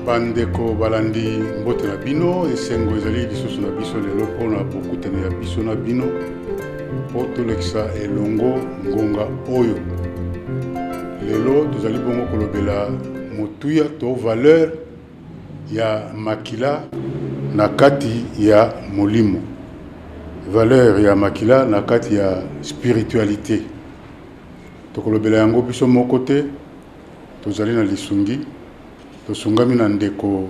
bandeko balandi mbote na bino esengo ezali lisusu na biso lelo mpo na bokutani ya biso na bino mpo tolekisa elongo ngonga oyo Lelo tozali bongo kolobela motuya to valeur ya makila na kati ya molimo, valeur ya makila na kati ya spiritualite. Tokolobela yango biso moko te, tozali na lisungi, tosungami na ndeko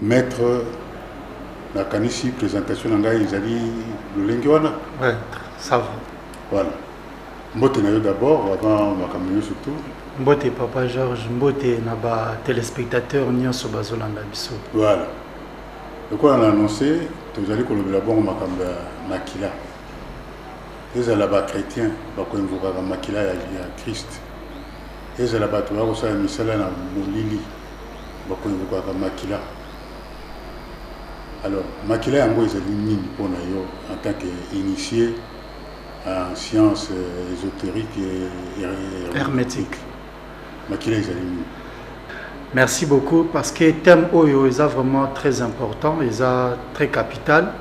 Maitre nakanisi presentation na ngai ezali lolenge wana ouais, ça va. Voilà. Mbote na yo d'abord avant makambo nyonso tout. Mbote papa Georges, mbote na ba téléspectateurs nyonso bazolanda biso. Voilà. Lokola na annoncé tozali kolobela bongo makambo ya makila. Ezala ba chrétiens bakoinvokaka makila ya, ya Christ. Ezala bato bakosala misala na molili. bakonyokolaka makila alors makila yango ezali nini mpo na yo en tant que initié en science euh, ésotérique et hermétique makila ezali nini merci beaucoup parce que thème oyo eza vraiment très important eza très capital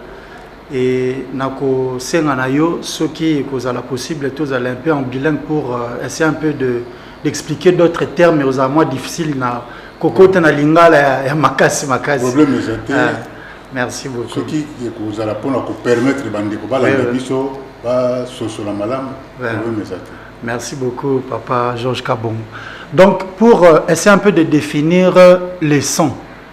et nakosenga na yo soki ekozala possible tozala un peu en bilingue pour euh, essayer un peu de d'expliquer d'autres termes ozala mwa difficile na kokota na lingala ya, ya makasi makasi problème eza te ah, merci beaucoup soki ekozala mpona kopermettre bandeko balanda biso basosola malamu problème eza te Merci beaucoup, Papa Georges Kabong. Donc, pour euh, essayer un peu de définir euh, les sons,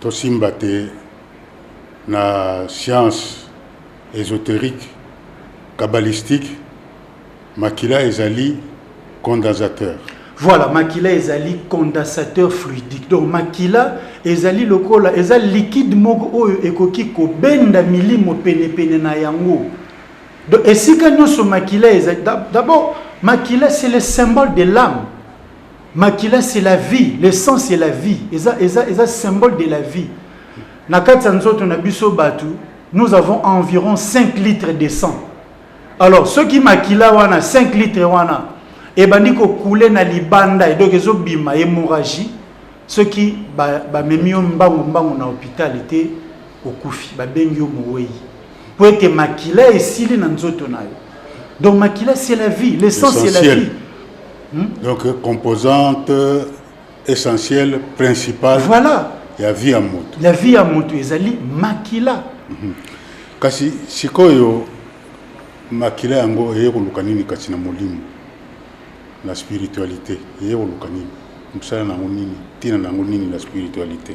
Tosimba te na science esoterique, kabbalistique, makila ezali condensateur. Voilà, makila ezali condensateur fluidique. Donc makila ezali lokola eza liquide moko oyo ekoki kobenda milimo pene pene na yango. Donc esika nyoso makila ezali d'abord makila c'est le symbole de l'âme. Makila c'est la vie, le sang c'est la vie. Eza eza eza symbole de la vie. Na kati ya nzoto na biso batu, nous avons environ 5 litres de sang. Alors soki makila wana 5 litres wana ebandi ko couler na libanda et donc ezo bima hémorragie soki ba, ba memi yo mbangu mbangu na hôpital te Okufi, babengi yo mowei. Mpo ete makila esili na nzoto na yo. Donc makila c'est la vie, le sang c'est la vie. Hmm? Donc composante essentielle, principale. Voilà. Ya vie ya moto. Ya vie ya moto ezali makila. Mm -hmm. Kasi sikoyo makila yango eye koluka nini kati na molimo na spiritualité eye koluka nini mosala na yango nini ntina na yango nini na spiritualité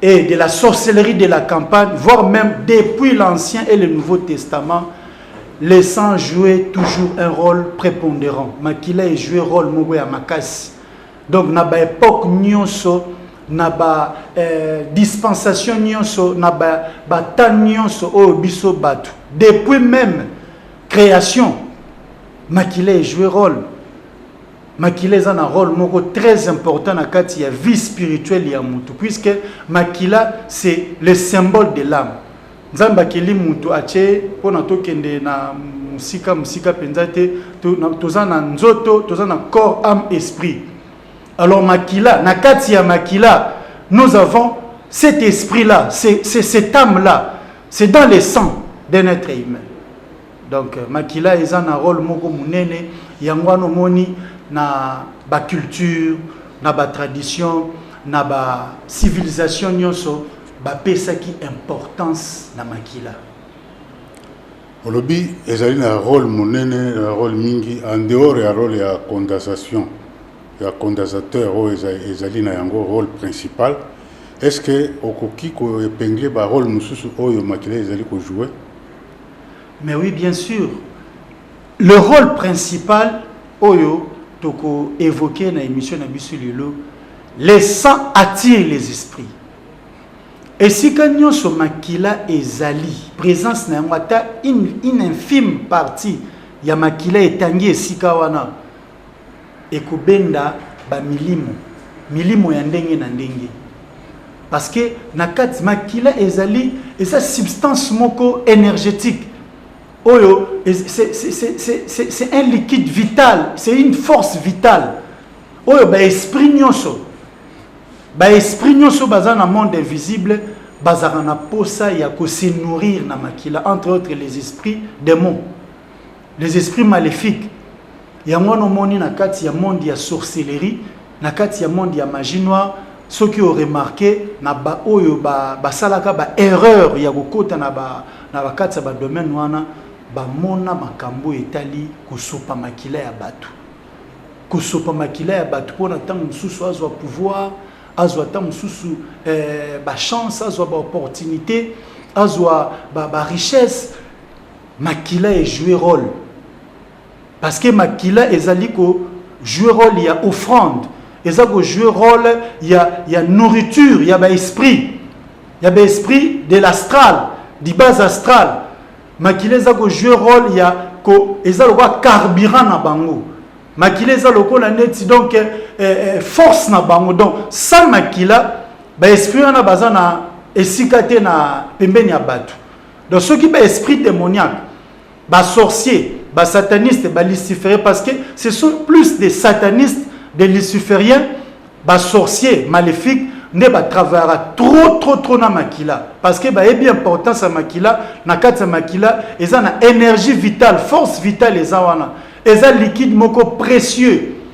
et de la sorcellerie de la campagne, voire même depuis l'Ancien et le Nouveau Testament, le sang jouait toujours un rôle prépondérant. Makila est joué rôle moko ya makasi. Donc na ba époque nyonso, na ba euh, dispensation nyonso, na ba ba temps nyonso oyo biso batu. Depuis même création, makila est joué rôle. makila eza na role moko très important na kati ya vie spirituelle ya mutu puisque makila c'est le symbole de l'âme nzambe akeli mutu atie mpo na tokende na mosika mosika mpenza te toza na nzoto toza na corps âme esprit alors makila na kati ya makila nous avons cet esprit là c'est cette âme là c'est dans le sang d'un être humain Donc makila eza na role moko munene yango wana omoni na ba culture na ba tradition na ba civilisation nyonso bapesaki importance na makila. olobi ezali na role monene na role mingi en dehors ya role ya condensation ya condensateur oyo eza- ezali na yango role principal est ce que okoki koepingle barole mosusu oyo makila ezali kojoue Mais oui bien sur le role principal oyo toko evoquer na emission na biso lelo le sang attire les esprits esika nyonso makila ezali présence na yango ata une infime partie ya makila etangi esika wana ekobenda ba milimo milimo ya ndenge na ndenge parce que na kati makila ezali eza substance moko énergétique oyo c'est un liquide vital c'est une force vitale oyo baesprit nyonso baesprit nyonso baza na monde invisible bazalaka na posa ya kose nourrir na makila entre autres les esprits démons les esprits maléfiques yango wana omoni na kati ya monde ya sorcellerie na kati ya monde ya magie noire soki oremarke na baoyo basalaka ba, ba erreur ya kokota na bakati ya badomaine wana bamona makambo oyo etali kosopa makila ya bato kosopa makila ya bato mpo na ntango mosusu azwa pouvoir azwa ntango mosusu eh, bachance azwa baopportunité azwa barichesse ba Makila e jouer role parce que makila ezali ko jouer role ya offrande eza ko jouer role ya ya nourriture ya ba esprit ya ba esprit de l'astral du bas astral makila eza ko jouer role ya ko eza lokola carburant na bango makila eza lokola neti donc eh, eh, force na bango donc sans makila ba esprit wana baza na esika te na pembeni ya bato Donc soki ba esprit démoniaque, ba sorciers, ba satanistes, ba lucifériens parce que ce sont plus des satanistes, des lucifériens, ba sorciers maléfiques nde ba travaillera trop trop trop na makila parce que ba ebi importance ya makila na kati ya makila eza na énergie vitale, force vitale eza wana. Eza liquide moko précieux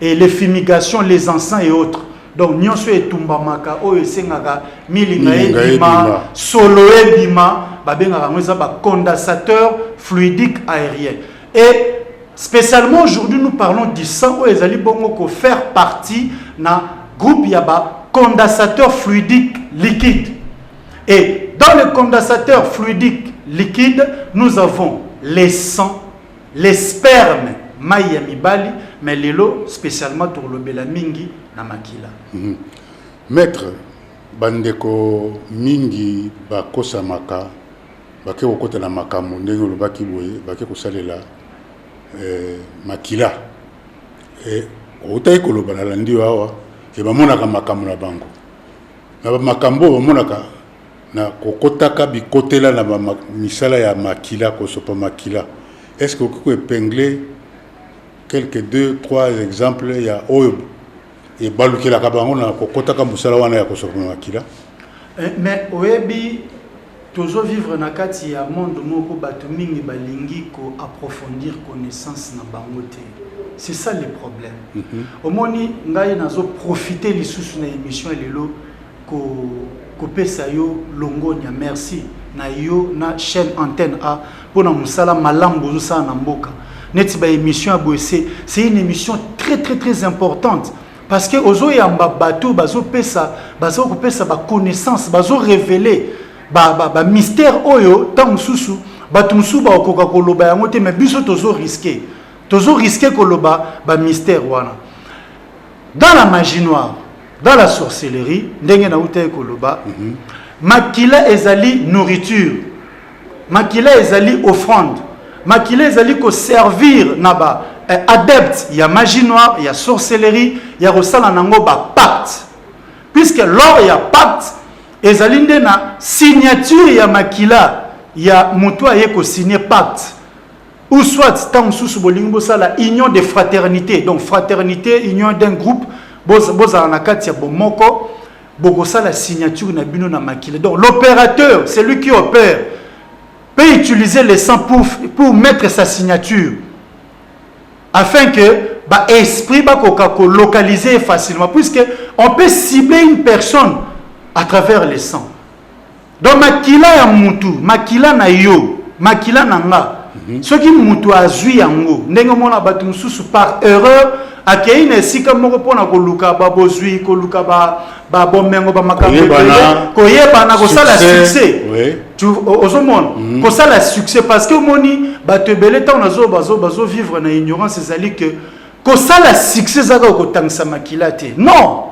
et les fumigations les encens et autres donc nyonso etumbamaka oyo esengaka milinga Milinga ebima ebima. solo ebima babengaka yango eza bacondensateur fluidique aérien et spécialement aujourd'hui nous parlons du sang oyo ezali bongo ko faire partie na groupe ya bacondensateur fluidique liquide et dans le condensateur fluidique liquide nous avons les sangs Les spermes mayi ya mibali mais lelo specialement tokolobela mingi na makila. Mm -hmm. Maître bandeko mingi bakosamaka bake kokota na makambo ndenge olobaki boye bake kosalela eh, makila eh, outaki koloba na landi awa ke bamonaka makambo na bango na bamakambo oyo bamonaka Na kokotaka bikotela na ba misala ya makila, kosopa makila, est ce que okoki ko epingler quelques deux, trois exemples ya oyo ebalukelaka bango na kokotaka mosala wana ya kosopa makila? Mais oyebi tozo vivre na kati ya monde moko batu mingi balingi ko approfondir connaissance na bango te. C'est ça le problème. Omoni ngai nazo profiter lisusu na emission ya lelo ko kopesa yo longonya merci na yo na chaîne antenne a pona musala malamu bozosala na mboka neti ba émission ya boye se c'est une émission très très très importante parce que ozoyamba bato bazopesa baza kopesa ba connaissance bazo révéler ba, ba, ba mystère oyo ntango mosusu bato mosusu bakokoka koloba yango te mais biso tozo risque tozo risque koloba ba mystère wana dans la magie noire dans la sorcellerie ndenge nawutaki koloba mm -hmm. makila ezali nourriture makila ezali offrande makila ezali koservir na ba eh, adepte ya magie noire ya sorcellerie ya kosala nango bapacte puisque lors ya pacte ezali nde na signature ya makila ya moto aye kosigne pacte Ou soit, tant sous bolingi bosala union de fraternité. Donc fraternité, union d'un groupe, bozala na kati ya bomoko, bokosala signature na bino na makila. Donc l'opérateur, c'est lui qui opère, peut utiliser le sang pour, pour mettre sa signature. Afin que ba esprit ba koka ko localiser facilement puisque on peut cibler une personne à travers le sang. Donc makila ya mutu, makila na yo, makila na nga. Mm -hmm. Soki mutu azui yango, ndenge mona batu mususu par erreur akei na esika moko mpo na koluka babozwi koluka babomengo bamakambo ebele koyebana kosala succès ozomona mhm. kosala succès parce que omoni bato ebele ntango nazo bazovivre na ignorance ezali que kosala succès ezaka okotangisa makila te non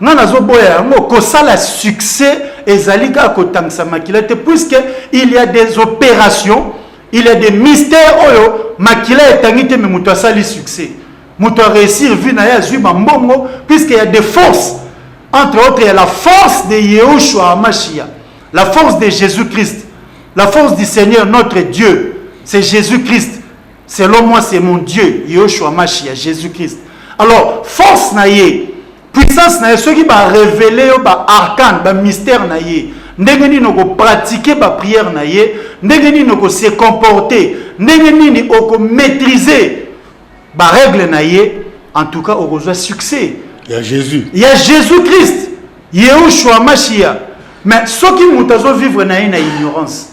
nga nazoboya yango kosala succès ezali kaka kotangisa makila te puisque il y a des opérations il y a des mystères oyo makila etangi te me moto asali succès moto aréussir vie na ye azwi bambongo puisque ya des forces entre autres ya la force de yehoshua amashia la force de jésus christ la force du seigneur notre dieu c'est jésus christ Selon moi c'est mon Dieu Yoshua Mashi ya Jesus Christ. Alors force na ye, puissance na ye soki ba révéler yo ba arcane, ba mystère na ye, ndenge nini oko pratiquer ba prière na ye, ndenge nini oko se comporter, ndenge nini oko maîtriser ba règles na ye, en tout cas okozwa succès. Ya Jésus. Ya Jésus Christ. Yehoshua Mashiach. Mais soki moto azo vivre na ye na ignorance.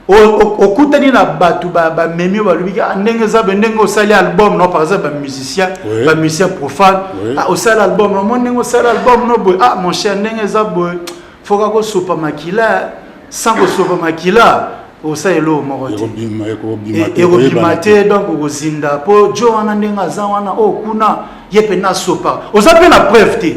okutani na bato bamemi oyo balobi ah, ndenge eza be ndenge osali album no par exemple bamusicien bamusicien profane ah, osali album no mo ndenge osali album no boye ah mon cher ndenge eza boye foka kosopa makila sans kosopa makila osala eloko moko te ekobima te donc okozinda mpo jo wana ndenge aza wana oyo oh, kuna ye mpe nasopa oza mpe na preuve te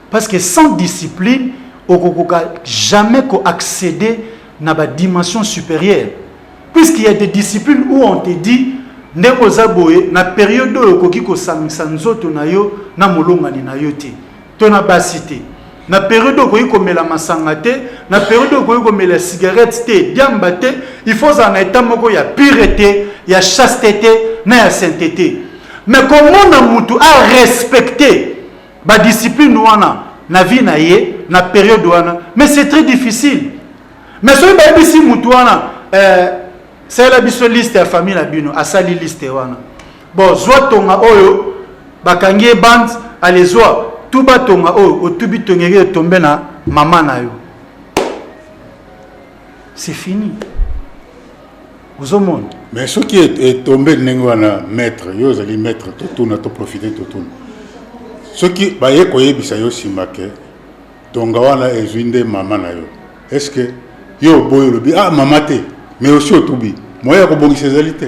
Parce que sans discipline, okokoka jamais ko accéder na ba dimensions supérieures. Puisqu'il y a des disciplines où on te dit ndenge oza boye na periode oyo okoki kosangisa nzoto na yo na molongani na yo te to na basi te na periode oyo okoki komela masanga te na periode oyo okoki komela cigarette te diamba te il faut ozala na etat moko ya purete ya chaste te na ya sainte te mais komona motu arespecte ba discipline wana na vie na ye na periode wana mais c'est très difficile mais soki bayebisi mutu wana euh, salela biso liste ya famille na bino asali liste wana bon zwa tonga oyo bakangi ye bande alezwa tuba tonga oyo otubi tongeke etombe na mama na yo c'est fini ozomona mais soki etombe ndenge wana maître yo ozali maître totuna toprofite totuna soki baye koyebisa yo nsima ke tonga wana ezwi nde mama na yo est ce que yo oboyi olobi ah mama te mais osi otubi moye ya kobongisa ezali te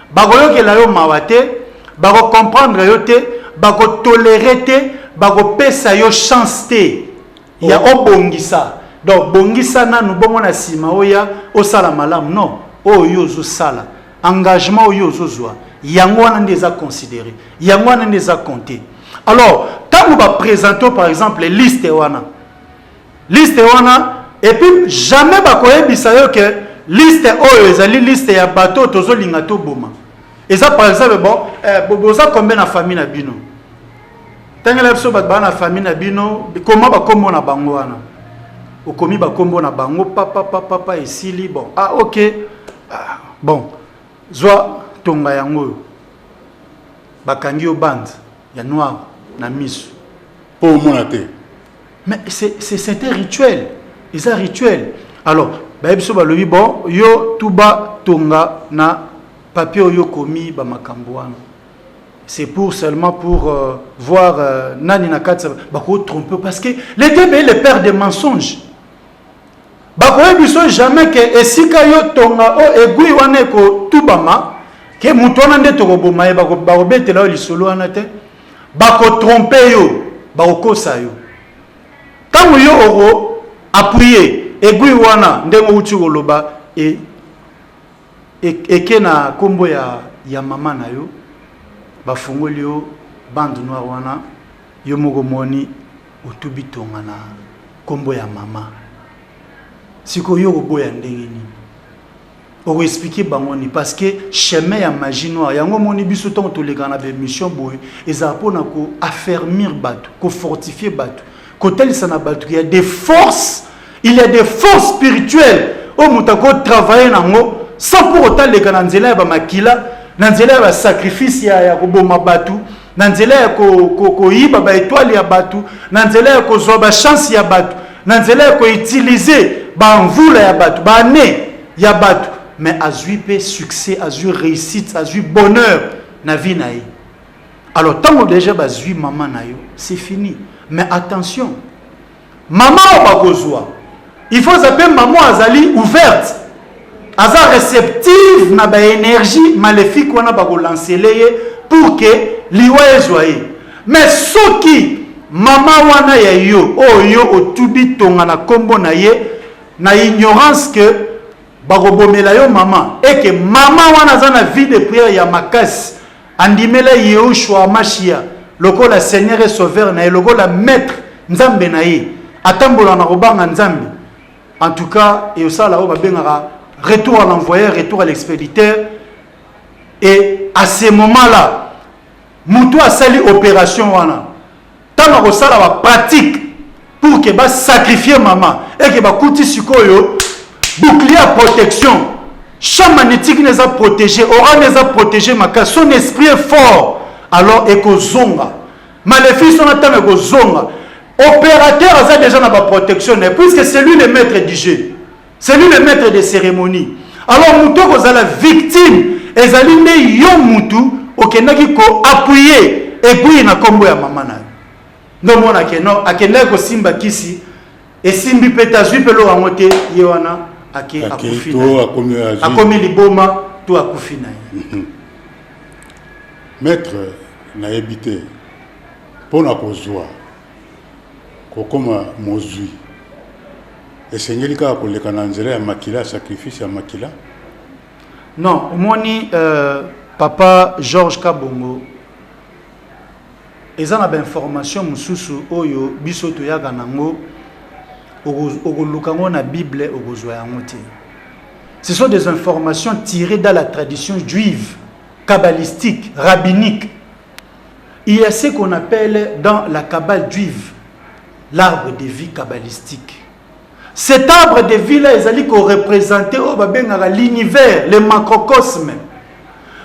Bakoyokela yo mawa te, bako comprendre yo te, bako tolerer te, bako pesa yo chance te ya oh. obongisa. Donc bongisa nanu bongo na sima oya osala malamu non. Oyo yo ozo sala engagement oyo ozo zwa yango wana nde eza considérer. Yango wana nde eza compter. Alors, tango ba présenter par exemple liste wana Liste wana et puis jamais bakoyebisa yo que liste oyo ezali liste ya bato oyo tozolinga toboma eza par exemple bon eh, boza combien na famille na bino tangela biso bato baa na famille na bino koma bakombo na bango wana okomi bakombo na bango papapapapa esili bon ah ok ah, bon zwa tonga yango oyo bakangi yo bande ya noir na misu po omona te mais c'est c'est un rituel eza rituel alors bayebi so balobi bon yo tuba tonga na papier oyo okomi ba makambo wana c'est pour seulement pour euh, voir euh, nani na kati bako tromper parce que le diable est le père des mensonges Bakoye biso jamais ke esika yo tonga o aiguille wana eko tubama ke mutu wana nde toko boma ye bako bako betela yo lisolo wana te bako trompe yo bako kosa yo tango yo oko appuyer aiguille wana ndenge outi koloba e, e, eke na kombo ya ya mama na yo bafungoli yo bande noire wana yo moko moni Otu bitonga na kombo ya mama. Siko yo oboya ndenge nini? Oko expliquer bango ni parce que chemin ya magie noire yango moni biso tant toleka na émission boye ezala pona ko affermir batu, ko fortifier batu, kotalisa na batu qu'il y a des forces, il y a des forces spirituelles oyo moto akoki travailler na yango sans mpo kotaleka na nzela ya bamakila na nzela ya basacrifice ya, ya koboma bato na nzela ya koyiba baetoile ya bato na nzela ya kozwa bachanse ya bato na nzela ya koutilize bamvula ya bato baane ya bato mais azwi mpe succès azwi réussite azwi bonheur na vie na ye alors ntango déjà bazwi mama na yo c'est fini mais attention Maman oyo bakozua il faut aza pe maman azali ouverte aza receptive na ba energie malefique wana bakolansele ye pour que liwa ezwa ye mais soki mama wana ya yo oyo oh, yo otubi tonga na nkombo na ye na ignorance ke bakobomela yo mama eke mama wana aza na vie de prière ya makasi Andimela Yehoshua Hamashia lokola Seigneur et Sauveur na ye, lokola Maitre, Nzambe na ye. Atambola na kobanga Nzambe. En tout cas, et osala oyo babengaka retour à l'envoyeur, retour à l'expéditeur. Et à ce moment-là, mutu asali opération wana Tango akosala ba pratique pour que ba sacrifier mama et que bakuti sikoyo bouclier ya protection champ magnétique na eza protégé oral na eza protégé makasi son esprit est fort alors ekozonga malefice wana ntango ekozonga opérateur aza déjà na baprotection na ye puisque c'est lui le maître du jeu C'est lui le maître de cérémonie. Alors moto kozala victime ezali nde yo mutu okendaki ko appuyer epuye na kombo ya mama na yo. Ndo mona ke non akendaki kosimba kisi esimbi mpe tazwi mpe lo yango te ye wana ake akufi akomi liboma to akufi na ye. Mhm. Maître nayebi te mpo na kozwa Kokoma mozwi esengeli kaka koleka na nzela ya makila, sacrifice ya makila? Non, omoni euh, papa Georges Kabongo eza na bainformation mosusu oyo biso toyaka nango okoluka yango na bible okozwa yango te ce sont des informations tirées dans la tradition juive kabbalistique rabbinique Il ya ce qu'on appelle dans la cabale juive l'arbre de vie cabalistique. Cet arbre de vie là ezali ko representer oyo babengaka l'univers, le macrocosme.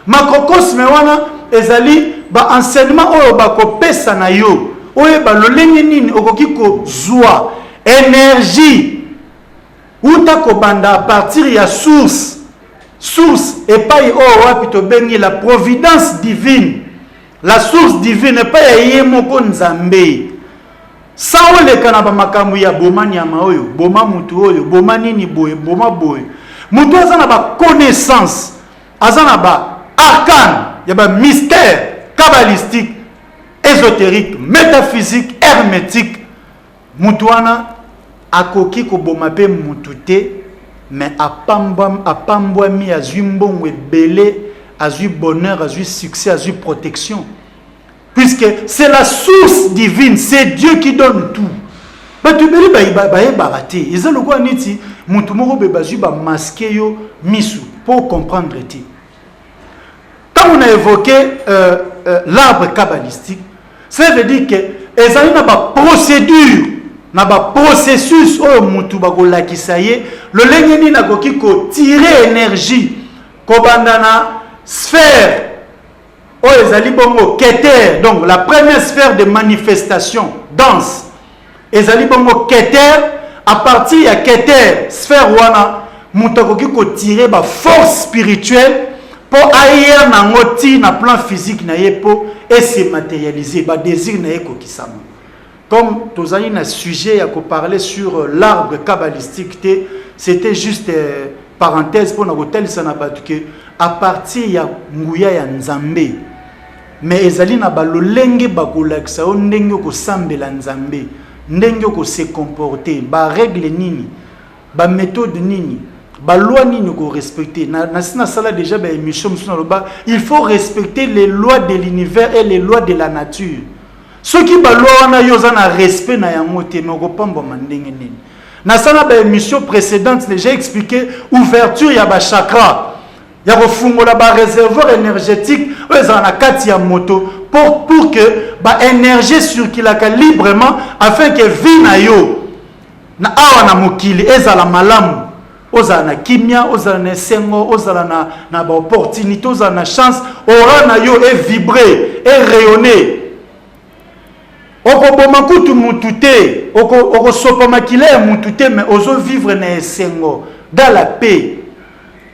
Macrocosme wana ezali ba enseignement oyo bakopesa na yo oyeba lolenge nini okoki kozwa energie uta kobanda à partir ya source source epai oyo wapi tobengi la providence divine la source divine epai ya ye moko nzambe sa oleka na bamakambo ya boma nyama oyo boma motu oyo boma nini boye boma boye motu aza na baconnaissance aza na baarkane ya bamystère cabalistique ésotérique métaphysique hermétique Mutu wana akoki koboma pe mutu te mais apambwami azui mbongo ebele azui bonheur azui succès azui protection puisque c'est la source divine c'est Dieu qui donne tout bato ebele bayebaka te eza lokola neti moto moko boye bazwi bamaske yo misu mpo comprendre te Tango na évoqué euh, euh, l'arbre kabbalistique, ça veut dire que ezali na ba procédure na ba processus oyo mutu bakolakisa ye lolenge nini akoki kotire énergie kobanda na sphère oyo ezali bongo keter donc la première sphère de manifestation danse ezali bongo keter à partir ya keter sphère wana moto akoki kotire baforce spirituelle mpo ayer na yango ti na plan physique na ye mpo ese matérialise badésir na ye ekokisama comme tozali na sujet ya koparle sur euh, l'arbre cabalistique te c'était juste euh, parenthèse mpo na kotalisa na bato ke à partir ya nguya ya nzambe Mais ezali na ba lolenge bakolakisa yo ndenge okosambela Nzambe, ndenge oko se comporter, ba règle nini, ba methode nini, ba loi nini oko respecter. Na nasi nasala déjà ba émission mosusu naloba il faut respecter les lois de l'univers et les lois de la nature. Soki ba loi wana yo oza na respect na yango te, mais okopambwama ndenge nini? Nasala ba émission précédente, j'ai expliqué ouverture ya ba chakras. ya kofungola ba réservoir énergétique oyo ezala na kati ya moto pour, pour que ba énergie circulaka librement afin que vie na yo na awa na mokili ezala malamu ozala na kimia ozala na esengo ozala na, na baopportunité ozala na chance ora na yo evibre erayonne okoboma kutu mutu te okosopa oko makila ya mutu te mais ozovivre na esengo dans la paix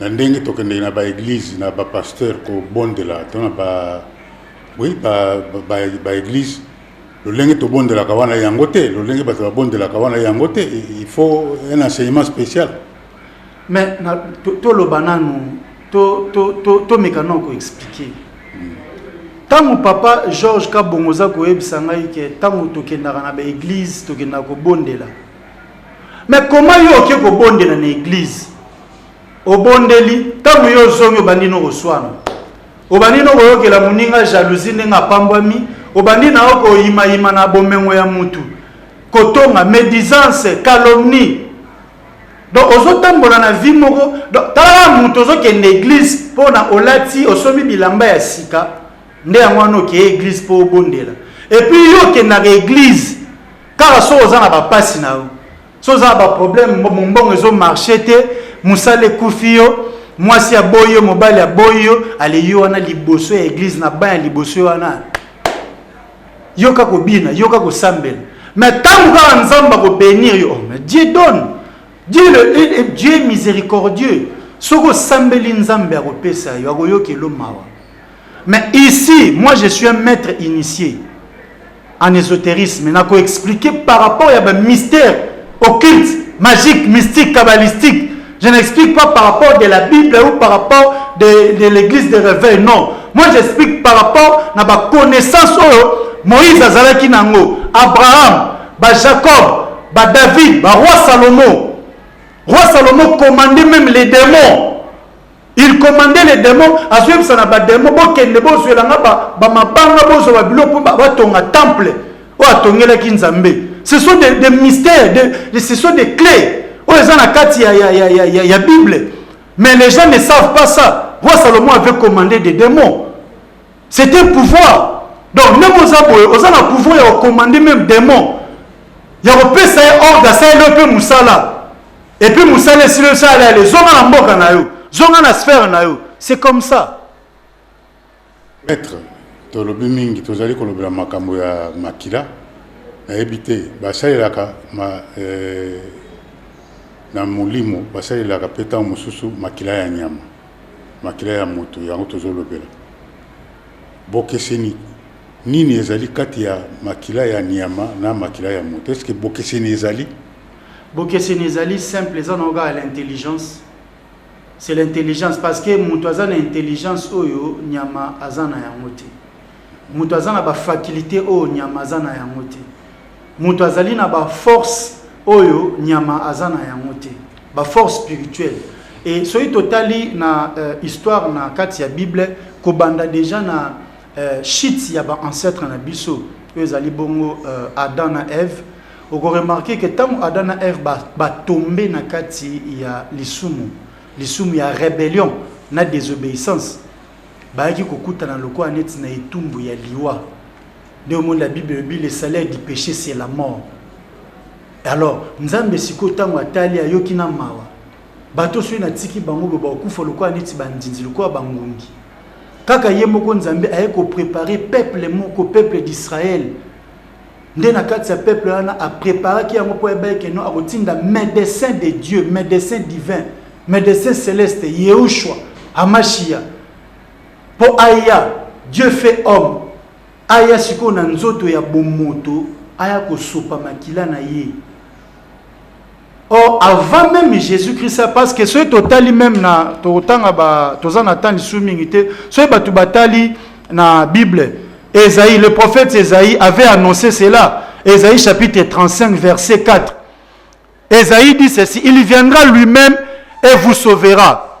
na ndenge tokendeki na baeglize na bapasteur kobondela to na ba oui baeglize lolenge tobondelaka wana yango te lolenge bato babondelaka wana yango te il faut un enseignement spécial mais toloba nanu tomeka nao koexplike ntango hmm. papa george kabongo oza koyebisa ngai ke ntango tokendaka na baeglize tokendaka kobondela mais koma yo oke kobondela na eglize obondeli ntango yo ozongi obandi no koswana obandi no koyokela moninga jalousie ndenge apambwami obandi na yo koyimayima na bomengo ya mutu kotonga médisance calomnie donc ozotambola na vie moko donc tala moto ozokende église mpo na olati osomi bilamba ya sika nde yango wana okeye église mpo obondela epuis yo okendaka église kaka soki oza na bapasi na yo soza ba problème mombongo ezo marché te mosala ekufi yo mwasi aboyi yo mobali aboyi yo aleyi yo wana liboso ya eglize na ban ya liboso yo wana yoka kobina yoka kosambela mais ntango kaka nzambe akobenir yo oh, mais dieu donne dieu, le, dieu miséricordieux soki osambeli nzambe akopesa yo akoyokelo mawa mais ici moi je suis un maître initié en esoterisme na ko expliquer par rapport ya ba mystère occulte magique mystique kabbalistique je n'explique pas par rapport de la bible ou par rapport de, de l'église de réveil non moi j'explique par rapport na ba connaissance oyo moïse azalaki nango abraham ba jacob ba david ba roi salomon roi salomon commandait même les démons Il commandait les demons, azoyebisa na ba demons bokende bozwela nga ba, ba mabanga bozwa ba biloko mpo batonga temple oyo atongelaki Nzambe. Ce sont des, des mystères, des, des, ce sont des clés oyo eza na kati ya, ya, ya, ya, ya, ya Bible. Mais les gens ne savent pas ça. Roi Salomon avait commandé des démons. C'est un pouvoir. Donc même aux aboyes, aux a pouvoir ya commander même démons. Ya kopesa ye ordre asali yo mpe mosala. Et puis musala esili osala yale zonga na mboka na yo zonga na sphère na yo c'est comme ça maître tolobi mingi tozali kolobela makambo ya makila nayebi te basalelaka ma, eh, na molimo basalelaka mpe ntango mosusu makila ya nyama makila ya moto yango tozolobela bokeseni nini ezali kati ya makila ya nyama na makila ya moto eske bokeseni ezali Bokeseni ezali simple eza nango kaka l'intelligence. C'est l'intelligence parce que mutu aza na intelligence oyo nyama aza na yango te. Mutu aza na ba faculite oyo nyama aza na yango te. Mutu azali na ba force oyo nyama aza na yango te. Ba force spirituelle. Et soki totali na euh, histoire na kati ya Bible kobanda déjà na euh, chute ya ba ancêtre na biso oyo ezali bongo euh, Adam na Eve Oko remarquer que tango Adam na Ève ba, ba tomber na kati ya lisumu, lisumu ya rebellion na desobeyissance, bayaki kokutana lokola neti na etumbu ya liwa. Nde omoni la Bible elobi le salaire du péché c'est la mort. Alors Nzambe sikoyo tango atali ayoki na mawa, bato soki natiki bango boye bakokufa lokola neti bandinzi, lokola bangungi. Kaka ye moko Nzambe aye koprepare peuple moko, peuple d'Israël, nde na kati ya peuple wana apreparaki yango mpo ayebaki ke no akotinda médecin de dieu médecin divin médecin céleste yehoshua amashiya mpo aya dieu fait homme aya sikoyo na nzoto ya bomoto aya kosopa makila na ye Or, avant même Jésus-Christ, parce que ceux totali même na totanga ba toza na tani su mingi te, ceux batu batali na Bible, Esaïe, le prophète Esaïe avait annoncé cela. Esaïe chapitre 35 verset 4. Esaïe dit ceci, il viendra lui-même et vous sauvera.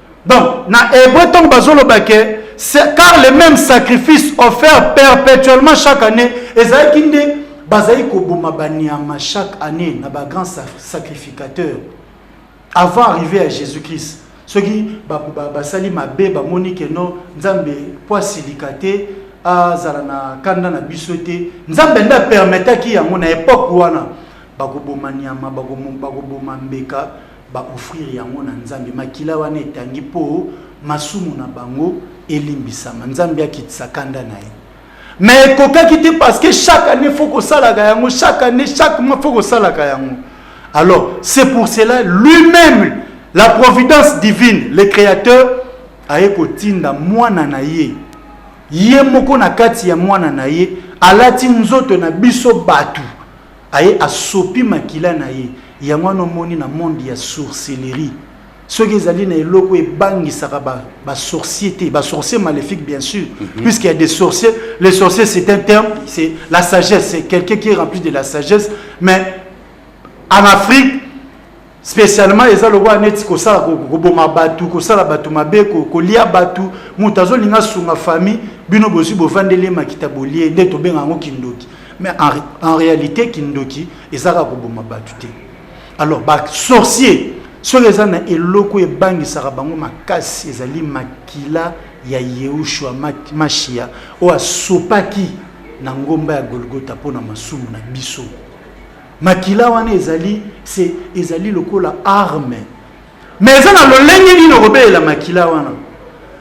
Donc, na hébreu, tant bazoloba que car les mêmes sacrifices offerts perpétuellement chaque année, ezalaki nde bazali koboma baniama chaque année na ba grands sacrificateurs avant arriver à Jésus-Christ. soki basali mabe bamoni ke no nzambe mpo asilika te azala na kanda na biso te nzambe nde apermetaki yango na epoke wana bakoboma nyama bakoboma mbeka ba offrir yango na nzambe makila wana etangi po masumu na bango elimbisama nzambe akitisa kanda na ye mais ekokaki te parce que chaque année faut kosalaka yango chaque année chaque mois faut kosalaka yango alors c'est pour cela lui-même la providence divine le créateur aye kotinda mwana na ye ye moko na kati ya mwana na ye alati nzoto na biso bato Aye asopi makila na ye. Yango wana omoni na monde ya sourcelerie soki ezali na eloko ebangisaka ba, ba sorcier te ba sorcier maléfique bien sûr mm -hmm. puisqu'il y a des sorciers les sorciers c'est un terme c'est la sagesse c'est quelqu'un qui est rempli de la sagesse mais en Afrique specialement eza lokola neti kosala koboma bato kosala bato mabe kolia bato moto azolinga asunga famille bino bozwi bovandeli makita bolie nde tobenga yango kindoki mais en, en réalité kindoki ezaka koboma bato te alors basorcier soki eza na eloko ebangisaka bango makasi ezali makila ya yehoshua mashia oyo asopaki na ngomba ya golgota mpo na masumu na biso makila wana ezali se ezali lokola arme me eza na lolenge nini okobelela makila wana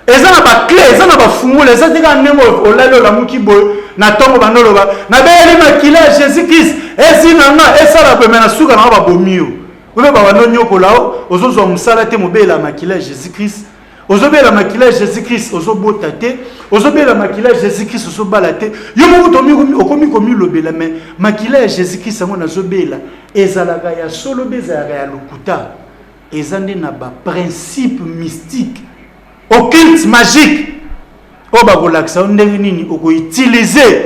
eza na bakle eza na bafungola eza te kaka ndenge olali olamuki boye na ntongo bando oloba nabeyeli makila ya jésus krist esi na nga esala boye me na suka na nga babomi yo oyo babanonyokola o ozozwa mosala te mobeyela makila ya jésus krist ozobela makila ya jésus christ ozobota te ozobela makila ya jésus christ ozobala te yo moko okomi komilobela me makila ya jésus christ yango nazobela ezalaka ya solo mpe ezalaka ya lokuta eza nde na baprincipe mystique occulte magique oyo bakolakisa yo ndenge nini okoutilize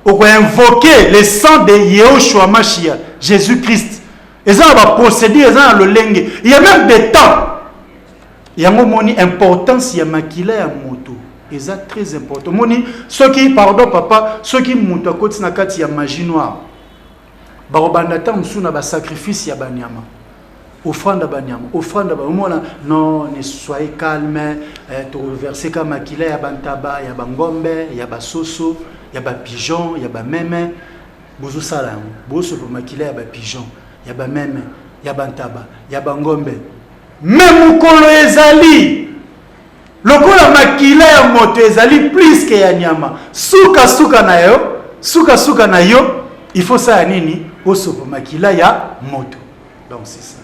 okoinvoke le sang de yehoshua mashia jésus christ eza na baprocédure eza na lolenge ya même de temps Yango omoni importance ya makila ya moto eza très important. Omoni soki pardon papa, soki moto akoti na kati ya magie noire, bakobanda ntango mosusu na basacrifice ya banyama offrande ya banyama offrande ya omona non ne soyez calme eh, tokoverse ka makila ya bantaba ya bangombe ya basoso ya bapigeon ya bameme bozosala yango bosopa makila ya bapigeon ya bameme ya bantaba ya bangombe Mais mokolo ezali lokola makila ya moto ezali plus que ya nyama suka suka na yo suka suka na yo il faut sala nini osopa makila ya moto donc c'est ça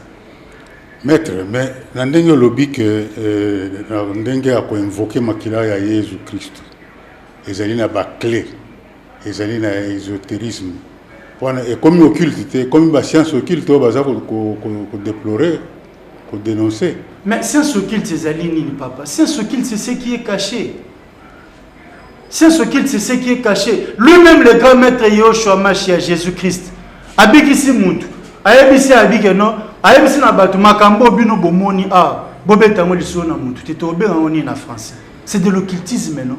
maître mais na ndenge olobi ke euh, na ndenge ya koinvoke makila ya yesu kristo ezali na baclé ezali na esoterisme wana ekomi occulte te ekomi ba science occulte oyo baza kodeplore kodenonce mais science occulte ezali nini papa science occulte c'est ce qui est caché science occulte c'est ce qui est caché lui-même le grand maître yoshua mashia jésus-christ abikisi mutu ayebisi abike no ayebisi na bato makambo bino bomoni awa bobeta yango lisolo na mutu te tobengaka yango nini na français c'est de l'occultisme non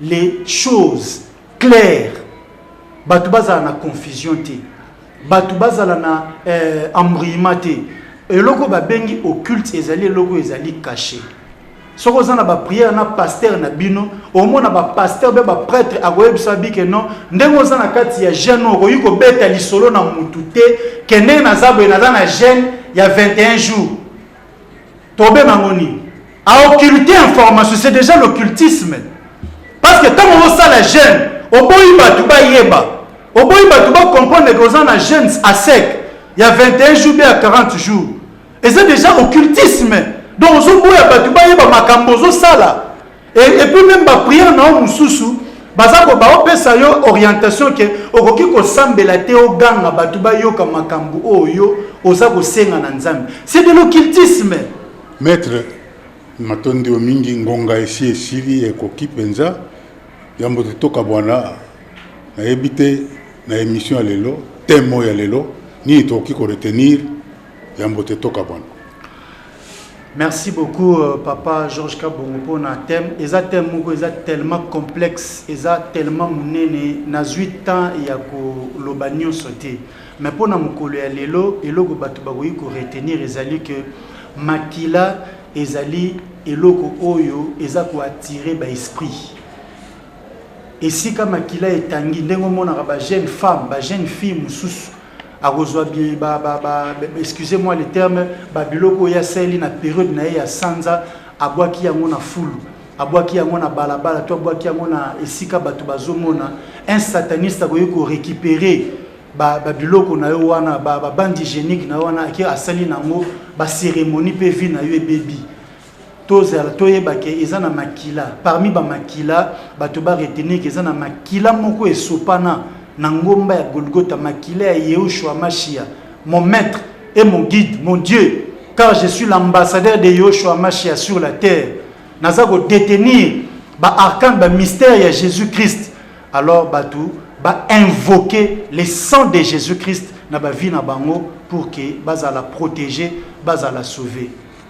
les choses claires bato bazala na confusion te bato bazala na euh, embrouillement te eloko babengi occulte ezali eloko ezali caché soki oza na bapriere na pastere na bino omona bapastere mpe bapretre akoyebisa bi ke non ndenge oza na kati ya jeune oyo okoki kobeta lisolo na motu te ke ndenge naza boye naza na jeune ya 21 jours Tobe mango nini? A occulter information, c'est déjà l'occultisme. Parce que ntango osala jeune, oboyi bato bayeba, oboyi bato ba comprendre que oza na jeune à sec ya 21 jours mpe ya 40 jours. Eza déjà occultisme. Donc ozoboya bato bayeba makambo ozosala. Et, et puis même ba prière na yo mususu baza ko baopesa yo orientation ke okoki kosambela te oganga bato bayoka makambo oyo oza kosenga na nzambe c'est de l'occultisme maître matondi yo mingi ngonga esi esili ekoki mpenza yambo te tokabwana nayebi te na émission ya lelo temo ya lelo nini tokoki koretenir yambo te tokabwana Merci beaucoup euh, papa Georges Kabongo mpo na thème eza thème moko eza tellement complexe eza tellement monene nazwi temps ya koloba nyonso te mais mpo na mokolo ya lelo eloko bato bakoki koretenir ezali que makila ezali eloko oyo eza koattire baesprit esika makila etangi ndenge omonaka bajeune femme bajeune fille mosusu akozwa bi ba ba ba excusez moi le terme ba biloko ya seli na période na ye ya sanza abwaki yango na fulu abwaki yango na balabala to abwaki yango na esika bato bazomona un sataniste akoki korécupere babiloko ba na yo wana babandi ba hygiénique na yo wana ake asali na yango bacérémonie mpe vie na yo ebebi tozala toyeba ke eza na makila parmi bamakila bato baretenir ke eza na makila moko esopana na ngomba ya golgota makila ya yehoshua mashia mon maître et mon guide mon dieu car je suis l'ambassadeur de yehoshua mashia sur la terre naza kodetenir baarkane bamystère ya jésus christ alors bato bainvoke le sang de jésus christ na bavie na bango pour ke bazala protégé bazala sauvé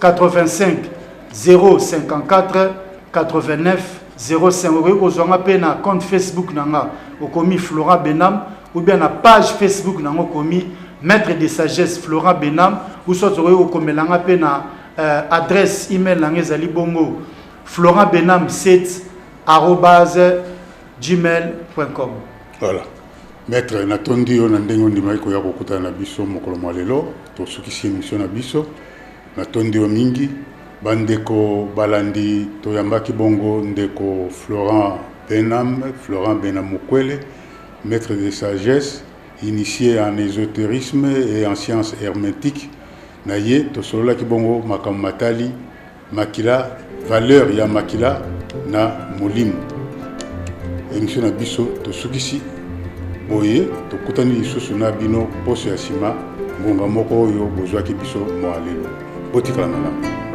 85 054 89 05 okoki kozwa nga mpe na compte facebook na nga okomi florent benam ou bien na page facebook na nga okomi maître de sagesse florent benam ou soit okoki kokomela nga mpe na euh, adresse email na nga ezali bongo florent benam 7 arobase gmail com voilà maître natondi yo na ndenge ondimaki koya kokutana na biso mokolo mwa lelo tosukisi émission na biso Natondi yo mingi. Ba ndeko balandi toyambaki bongo ndeko Florent Benham, Florent Benham Mukwele, maitre de sagesse, initie en esoterisme et en science hermetique, na ye tosololaki bongo makambo matali makila, valeur ya makila na molimo. Emission na biso tosukisi. Boye, tokutani lisusu na bino poso ya sima, ngonga moko oyo bozwaki biso mwa lelo. Botikala malamu.